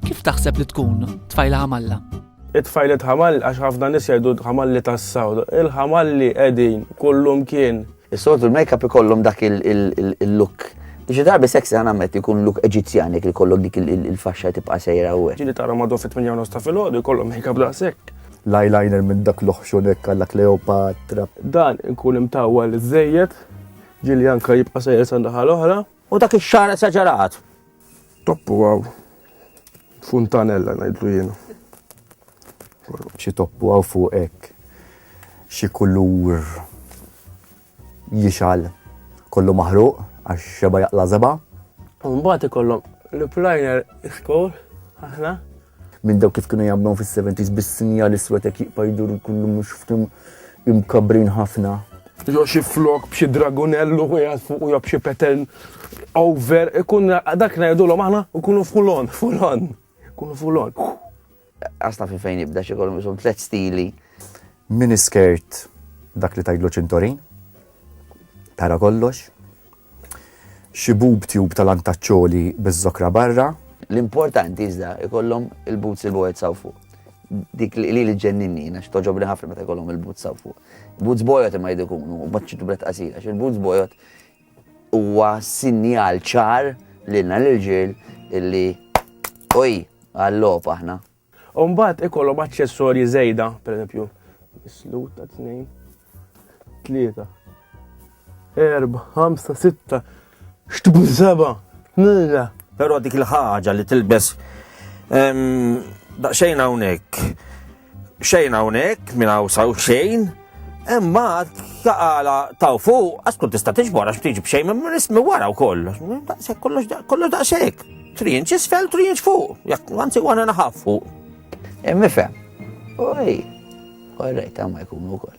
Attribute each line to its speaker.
Speaker 1: Kif taħseb li tkun tfajla ħamalla? It-tfajlet
Speaker 2: ħamall għax ħafna nis jgħidu ħamalli tas-sawd. Il-ħamalli qegħdin kullum kien. Is-soltu l-makeup
Speaker 3: ikollhom dak il-look. Xi darbi sexy għan għammet ikun look eġizjan jek ikollok dik il-faxxa tibqa' sejra u. Ġili tara madu fit minn jawnos
Speaker 2: ta' filgħodu jkollhom makeup da' sekk. L-eyeliner minn
Speaker 4: dak l-oħxunek għalla Kleopatra. Dan ikun
Speaker 2: imtawwa l-żejjed, ġili anka jibqa' sejra sandaħal oħra. U dak ix-xagħar
Speaker 3: esaġerat. Toppu
Speaker 2: għaw. Funtanella ngħidlu jiena.
Speaker 4: Xi toppu għaw fuq hekk. Xi kulur jixal kollu maħruq għax xeba jaqla' żeba'. Mbagħad
Speaker 2: ikollhom l-plajner iskor aħna minn dawk
Speaker 4: kif kienu jagħmluhom fis-70s bis-sinjal iswed hekk jibqa' jdur kullu mhux ftim imkabbrin ħafna. Jew xi
Speaker 2: flok b'xi dragunell u qiegħed fuq jew b'xi petel over ikun dak ngħidulhom aħna nkunu fulon, fulon, ikunu fulon. Għasta
Speaker 3: fi fejn jibda xi kollu bishom tliet stili. Mini
Speaker 4: skirt dak li tajdlu ċintorin, tara kollox, Xi boob tube ta' lantaċċoli biz-zokra barra. L-importanti iżda
Speaker 3: ikollhom il-boots il-bojet s'hawn fuq. Dik li li ġġenninni jiena x'togħġobni ħafna meta jkollhom il-boots s'hawn fuq. Boots bojod imma jridu jkunu u ma ċ-ċitubret qasira għax il-boots bojod huwa sinjal ċar lilna l-irġiel illi oj għal-logħob aħna. U mbagħad
Speaker 2: ikollhom aċċessorji żejda, pereżempju, is-slut ta' tnejn, tlieta, erba, ħamsa, sitta, xtbun seba, nilla. Però dik
Speaker 5: il-ħaġa li tilbes daqsxejn hawnhekk, xejn hawnhekk minn hawn saw xejn, Imma taqala taw fuq, għax tkun tista' tiġbor għax tiġi b'xejn minn rismi wara wkoll. Daqshekk kollox kollox daqshekk. Trinċ isfel, trinċ fuq. Jekk anzi għana naħaf fuq.
Speaker 3: Imifhem. Oj, korrejt ma jkunu wkoll.